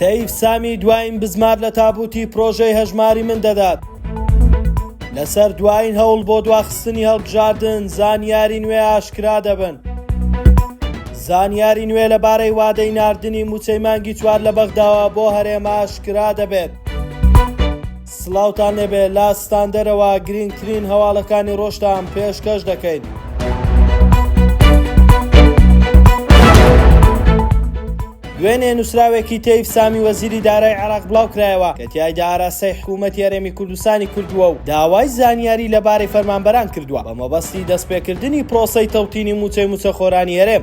تەیف سامی دوایین بزمار لە تابوتی پرۆژەی هەژماری من دەدات لەسەر دوایین هەوڵ بۆ دواخستنی هەڵبژاردن زانیاری نوێ ئاشکرا دەبن زانیاری نوێ لەبارەی وادەی نردنی موچەی مانگی چوار لە بەغداوە بۆ هەرێمە ئاشکرا دەبێت. سڵاوتان لێبێ لە ستاندەرەوە گرینگترین هەواڵەکانی ڕۆژتان پێشکەش دەکەین. دوێنێ نووسراوێکی تەیف سامی وەزیری دارای عێراق بڵاوکرایەوە کە تایدا ئاراستەی حکوومەت یارێمی کوردستانی کردووە و داوای زانیاری لەبارەی فەرمانبەران کردووە بە مەبەستی دەستپێکردنی پرۆسەی تەوتینی مووچەی مووچەخۆرانی هەرێم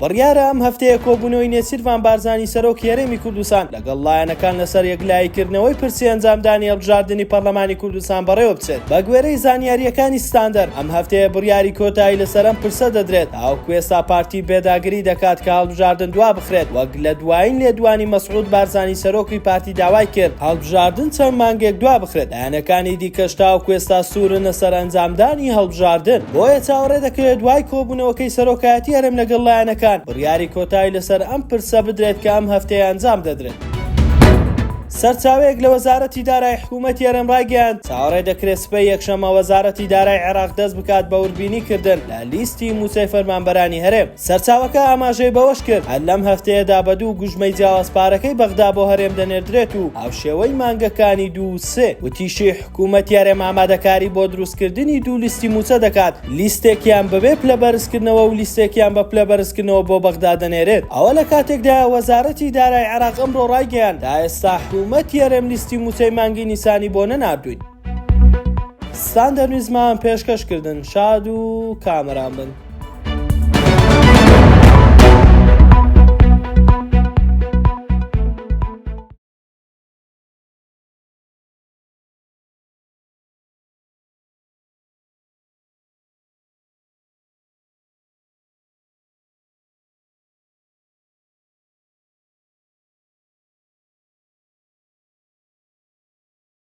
بڕیارە ئەم هەفتەیە کۆبوونەوەی نێچیرڤان بارزانی سەرۆکی هەرێمی کوردستان لەگەڵ لایەنەکان لەسەر یەکلاییکردنەوەی پرسی ئەنجامدانی هەڵبژاردنی پەرلەمانی کوردستان بەڕێوەبچێت. بەگوێرەی زانیارییەکانی ستاندەر، ئەم هەفتەیە بڕیاری کۆتایی لەسەر ئەم پرسە دەدرێت، تاوەکو ئێستا پارتی پێداگری دەکات کە هەڵبژاردن دوابخرێت، وەک لە دوایین لێدوانی مەسعود بارزانی سەرۆکی پارتی داوایکرد هەڵبژاردن چەند مانگێک دوابخرێت. لایەنەکانی دیکەش تاوەکو ئێستا سوورن لەسەر ئەنجامدانی هەڵبژاردن، بۆیە چاوەڕێ دەکرێت دوای کۆبوونەوەکەی سەرۆکایەتی هەرێم لەگەڵ لایەنەکان، بڕیاری کۆتایی لەسەر ئەم پرسە بدرێت کە ئەم هەفتەیە ئەنجام دەدرێت. سەرچاوەیەک لە وەزارەتی دارایی حکوومەتی هەرێم ڕایگەیاند، چاوەڕێ دەکرێت سبەی یەکشەممە وەزارەتی دارایی عێراق دەست بکات بە وردبینی کردن لە لیستی مووچەی فەرمانبەرانی هەرێم. سەرچاوەکە ئاماژەی بەوەشکرد، هەر لەم هەفتەیەدا بە دوو گوژمەی جیاواز پارەکەی بەغدا بۆ هەرێم دەنێردرێت و هاوشێوەی مانگەکانی دوو و سێ. وتیشی، حکومەتی هەرێم ئامادەکاری بۆ دروستکردنی دوو لیستی مووچە دەکات، لیستێکیان بەبێ پلە بەرزکردنەوە و لیستێکیان بە پلە بەرزکردنەوە بۆ بەغدا دەنێرێت. ئەوە لە کاتێکدایە، وەزارەتی دارای عێراق ئەمڕۆ رایگەیاند، تا ئێستا حکومەتی هەرێم لیستی مووچەی مانگی نیسانی بۆ نەناردووین. ستاندەر نیزمان پێشکەش کردن شاد و کامەران بن.